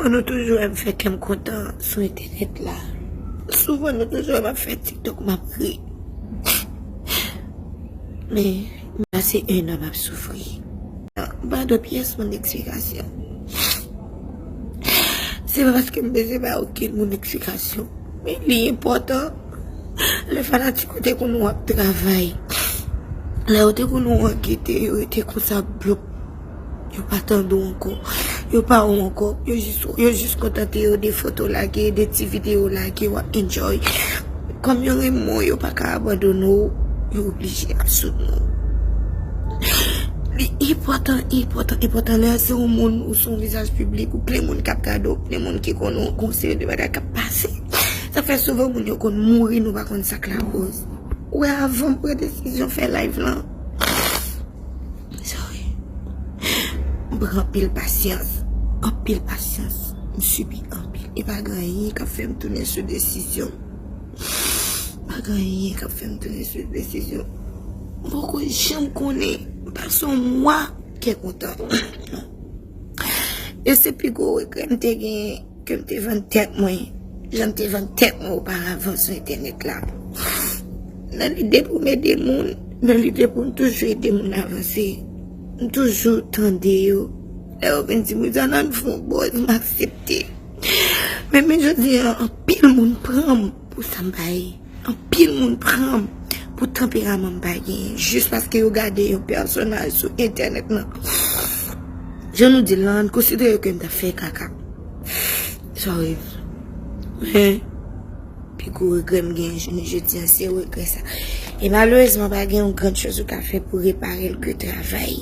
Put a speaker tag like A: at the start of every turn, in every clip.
A: An nou toujou wèm fè kèm kontan sou entènèt la souvan nou toujou wèm ap fè tiktok map ri men pase 1 an map soufri mpa dwe pyès moun eksplikasyon se pa paske m bezwen bay okenn moun eksplikasyon men li enpòtan lè fanatik ou te konn wè wap travay lè ou te konn wè w an gete yo rete konsa blop. Yo pa tande w ankò. Yo pa wè w ankò. Yo jis wè, yo jis kontante yo de foto w lage, de ti videyo w lage wap enjoy. Kòm yo renmen w, yo pa ka abandone w, yo oblije ap soutni w. Li enpòtan, enpòtan, enpòtan lè se yon moun ou se yon vizaj piblik ou plen moun kap gade w, plen moun ki konnen w, gon seri de bagay kap pase. Sa fè souvan moun yo konn mouri nou pa konn sak lakoz. Ou wè avan m pran desizyon fè live lan. Sorry. M pran anpil pasyans. Anpil pasyans. M sibi anpil. E pa gen anyen k ap fè m tounen sou desizyon m. Pa gen anyen k ap fè m tounen sou desizyon m. M poko janm konnen. M pa son mwa kè kontan. E se pi gwo regrè m te genyen. Ke m te vann tèt mwen jan m te vann tèt mwen oparavan sou entènèt la. Nan lide pou m ede moun, nan lide pou m toujou ede moun avanse, m toujou tande yo. Lè yo vin di m Rizana n fè yon bòz, m aksepte. Men men jodi an anpil moun pran m. Pou sa m bay, anpil moun pran m pou tanperaman m pa genyen jis paske yo gade yon pèsonaj sou entènèt nan. Jan nou di l lan, n konsidere ke n ta fè kaka. Sorry. Men, pi gwo regrè m genyen jounen jodi an se regrè sa. E malerezman pa gen yon gran choz ou ka fè pou repare l ke travay.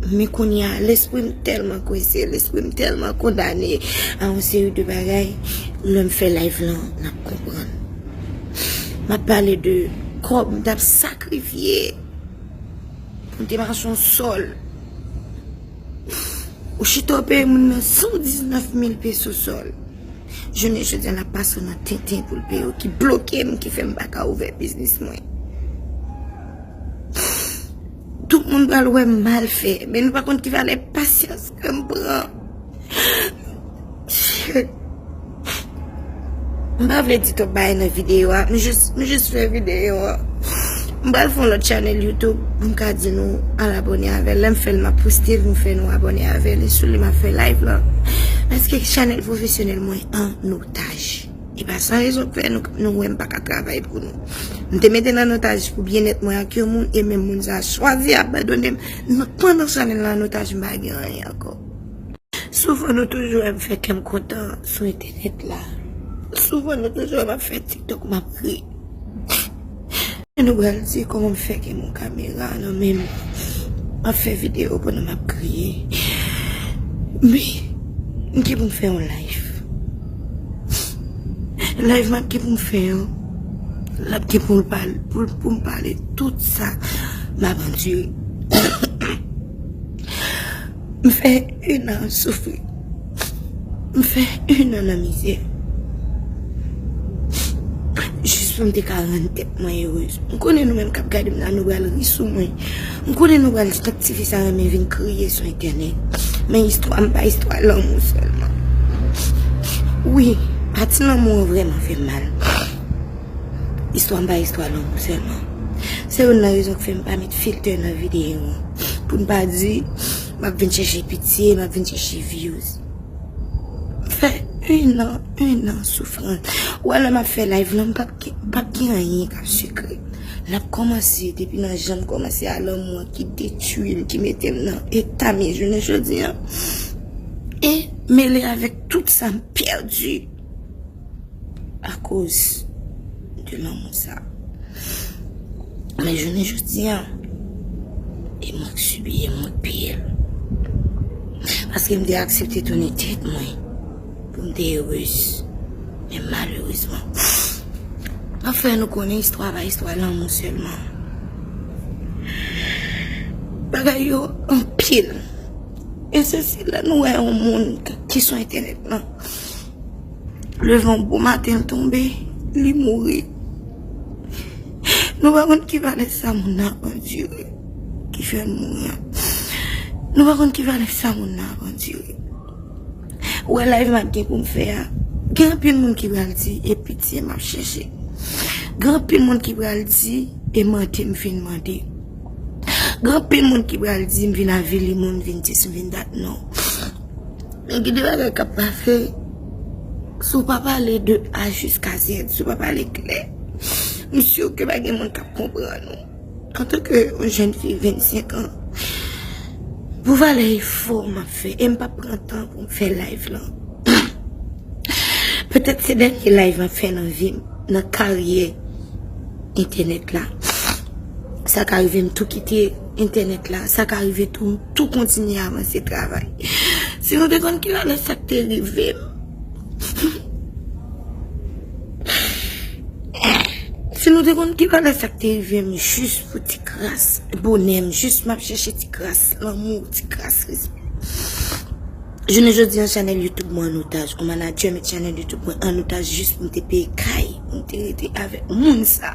A: Men kounye a, lespri m tèlman kwense, lespri m tèlman kondane a yon seri de bagay, lè m fè live lan, n ap konprann. M ap pale de kòb m t ap sakrifye pou m te mache yon sòl. Ou chita w peye moun nan 119 mil peso sòl. Jounen jodi an ap pase w nan tenten pou l peye w ki bloke m ki fè m pa ka ouvè biznis mwen. Tout moun pral wè m mal fè men nou pa konn ki valè pasyans ke m pran. M pa vle di twòp bagay nan videyo a, m jis fè videyo a. M pral fon lot chanel YouTube pou m ka di nou al abone avèl lèm fèl map poste l nou fè nou abone avèl e sou li map fè live lan paske chanel profesyonèl mwen an otaj e pa san rezon k fè nou wèm pa ka travay pou nou m te metel an otaj pou byen et mwen ak yon moun e menm moun sa chwazi abandonem nan pandan chanel lan an otaj m pa gen anyen ankò souvan nou toujou wèm fè kèm kontan sou entènèt la souvan nou toujou wèm ap fè tiktok map ri. Mwen nou bral di koman m fè gen yon kamera nan men m map fè video pandan map kriye me m gen pou m fè yon live live map gen pou m fè an lap gen pou m pale tout sa map andire M fè yn an soufri m fè yn an nan mizè jis pou m te ka rann tèt mwen erez m konnen nou menm kap gade m la nou pral ri sou mwen m konnen nou pral di tank tifi sa renmen vin kriye sou entènèt men istwa m pa istwa lanmou sèlman wi pati lanmou an vrèman fè m mal istwa m pa istwa lanmou sèlman. Se youn nan rezon k fè m pa met filter nan videyo an, pou m pa di m ap vin chèche pitye, m ap vin chèche views. M fè youn an, youn an soufran. Ou wè lè m ap fè live lan m p ap gen, m p ap gen anyen k ap sikre. L ap kòmanse depi nan jan m kòmanse a lanmou an ki detui m, ki mete m nan eta m ye jounen jodi an e mele avèk tout sa m pèdi. Akoz de lanmou sa. Men jounen jodi an, e mwen k subi, e mwen k peye l. Paske m te aksepte tounen tèt mwen pou m te erez. Men malerezman, map fè nou konnen istwa pa istwa lanmou selman. Bagay yo anpil. E se si lè nou wè yon moun ki sou entènèt lan, Leve yon bon maten l tonbe, li mouri. Nou pa konn ki valè sa moun nan ap andire ki fè l mouri an. Nou pa konn ki valè sa moun nan ap andire. Ou wè layv m ap gen pou m fè a, gen anpil moun ki pral di e pitye m ap chèche. Gen anpil moun ki pral di e mande m fin mande. Gen anpil moun ki pral di m vin avili moun, vin dis m vin dat non. Men gen de bagay kap pase, si w pa pale de A jiska Zèd, si w pa pale klè, m si ke pa gen moun kap konprann ou. Antanke yon jenn fi 25 an, pou valè efò map fè, e m pap pran tan pou m fè live lan. Petèt se dènye live map fè nan vi m, nan karyè entènèt la. Sa ka rive m tou kite. Entènèt la, sa ka rive tou, m tou kontinye avanse travay. Si nou te konn ki malè sa k te rive m. Si nou te konn ki malè sa k te rive m jis pou ti kras bonè m, jis m ap chèche ti kras lanmou, ti kras respè. Jounen jodi an chanèl YouTube mwen an otaj, yon manadjè met chanèl YouTube mwen an otaj jis pou m te peye kay, pou m te rete avèk moun sa.